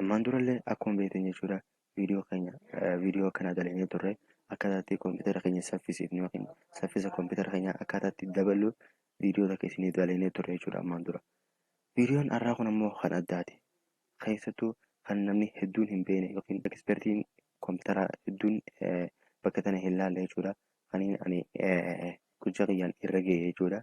Ammaan durallee akkuma beektan jechuudha viidiyoo keenya viidiyoo akkanaa dalagnee turre akkaataa itti kompiitara keenya saffisiifnu yookiin saffisa kompiitara keenya akkaataa itti daballu viidiyoo takka isinii dalagnee turre jechuudha ammaan dura. Viidiyoon har'aa kun ammoo kan addaati. Keessattuu kan namni hedduun hin beekne yookiin ekspertiin kompiitaraa hedduun bakka tana hin laalle jechuudha. Kaniin ani gujja kiyyaan irra ga'e jechuudha.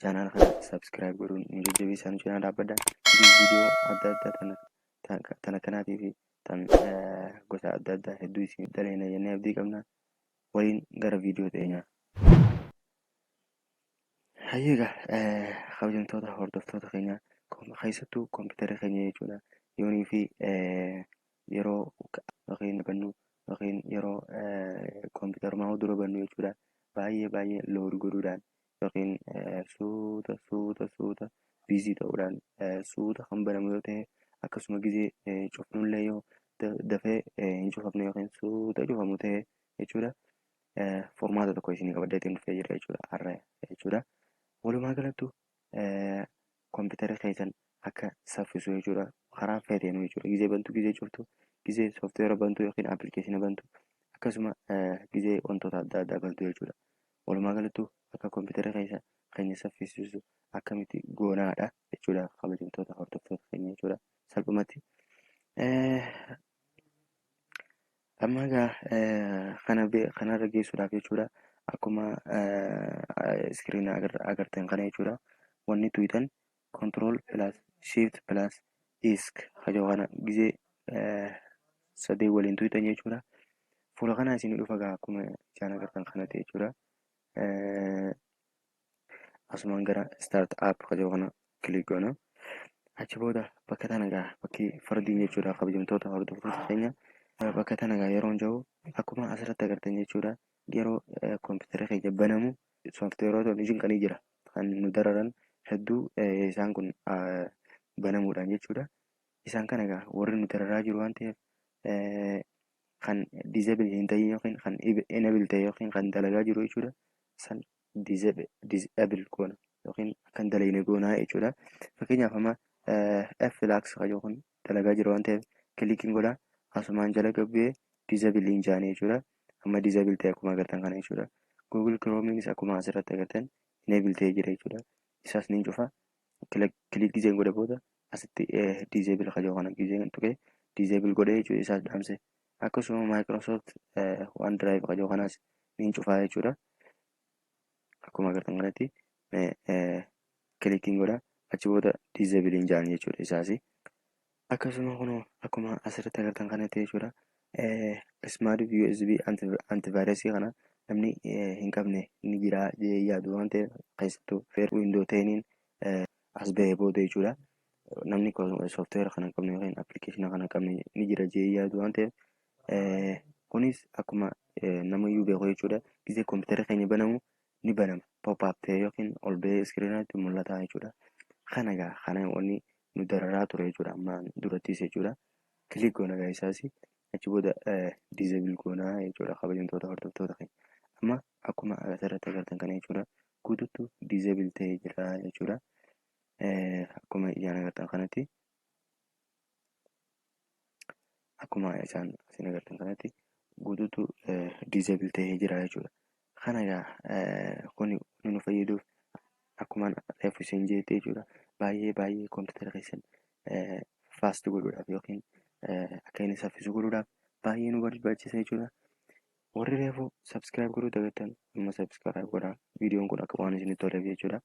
Channel kana subscribe godhuun nu jajjabeessaa nu cinaa dhaabbadha. Video adda addaa tana tana kanaatii fi tan gosa adda addaa hedduu isin dhaleena jennee abdii qabna. Waliin gara video teenyaa. Hayyeega kabajamtoota hordoftoota keenya keessattuu kompiitarri keenya jechuudha. Yoonii fi yeroo yookiin bannu yookiin yeroo kompiitarummaa dura bannu jechuudha. Baay'ee baay'ee load godhuudhaan yookiin suuta suuta suuta biizii ta'uudhaan suuta kan banamu yoo ta'e akkasuma gizee cufnullee yoo dafee hin cufamne yookiin suuta cufamu ta'e jechuudha. Formaata tokko isinii qabadee ittiin dhufee jira jechuudha har'a jechuudha. Walumaa galattu kompiitarri keessan akka saffisu jechuudha karaa feeteenu jechuudha gizee bantu gizee cuftu gizee sooftiweera bantu yookiin appilikeeshina bantu akkasuma gizee wantoota adda addaa bantu jechuudha. Walumaa galattu akka computer keessa keenya saffisiisu akkamitti goonaadha jechuudha kabajamtoota hordoftoota keenya jechuudha salphumatti. Amma egaa kana kanarra geessuudhaaf jechuudha akkuma iskiriina agartan kana jechuudha wanni tuytan Control plus shift plus isk hajoo kana gizee sadee waliin tuyxan jechuudha. Fuula kana isin dhufa gaa akkuma isaan agartan kana ta'e jechuudha. Asumaan gara start app hajoo kana kilik goona. Achi booda bakka tana gaa bakki fardiin jechuudha kabajamtoota hordoftoota keenya bakka tana gaa yeroon jiru akkuma asirratti agartan jechuudha. Yeroo kompiitara keenya banamu sooftiweeroota hojiin kan jira kan nu dararan hedduu isaan kun banamuudhaan jechuudha. Isaan kana egaa warri nu dararaa jiru waan ta'eef kan disable hin ta'in yookiin kan enable ta'e yookiin kan dalagaa jiru jechuudha. San disable goona yookiin kan dalagne goonaa jechuudha. Fakkeenyaaf amma F lax kan yookiin dalagaa jira waan ta'eef click hin godha asumaan jala gabbu'ee disable hin jaane jechuudha amma disable ta'e akkuma agartan kana jechuudha google chrome'nis akkuma asirratti agartan enable ta'e jira jechuudha isaas ni cufa click gizeen godha booda asitti disable kajoo kana gizeen tuqee disable godhee jechuudha isaas dhaamse akkasuma microsoft one drive kajoo kanaas ni cufaa jechuudha akkuma agartan kanatti kilikiin godha achi booda diizabiliin ja'an jechuudha isaas akkasuma kun akkuma asirratti agartan kanatti jechuudha smart usb antivirasii kana namni hin qabne ni jira jee yaadu waan ta'eef keessattuu feer windoo ta'iniin as ba'ee booda jechuudha namni sooftiweera kana hin qabne yookiin appilikeeshina kana hin qabne ni jira jee yaadu waan ta'eef Kunis akkuma namayyuu beeku jechuudha. Gizee kompiitarri keenya banamu ni banama. Pop up ta'ee yookiin ol ba'ee iskiriinaatti mul'ata jechuudha. Kana egaa kana wanni nu dararaa ture jechuudha. Amma durattis jechuudha. Kilik goona egaa isaas achi booda disable goona jechuudha kabajamtoota hordoftoota keenya. Amma akkuma asirratti agartan kana jechuudha. Guutuutu disable ta'ee jira jechuudha. Akkuma ijaan agartan kanatti akkuma isaan isin agartan kanatti guutuutu disable ta'ee jira jechuudha. Kana egaa kuni inni nu fayyaduuf akkuma reefu isin jeetti jechuudha baay'ee baay'ee kompiitara keessan faast godhuudhaaf yookiin akka inni saffisu godhuudhaaf baay'ee nu barbaachisa jechuudha. Warri reefu subscribe godhuu dagattan amma subscribe godhaa viidiyoon kun akka waan isinitti toleef jechuudha.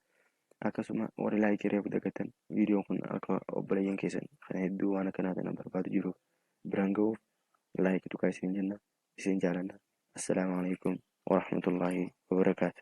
Akkasuma warri like reefu dagattan viidiyoon kun akka obboleeyyan keessan kan hedduu waan akkanaa kana barbaadu jiruuf biraan ga'uuf like tuqaa isin jenna isin jaalanna. Assalaamu alaikum warahmatullaahi wabarakaatu.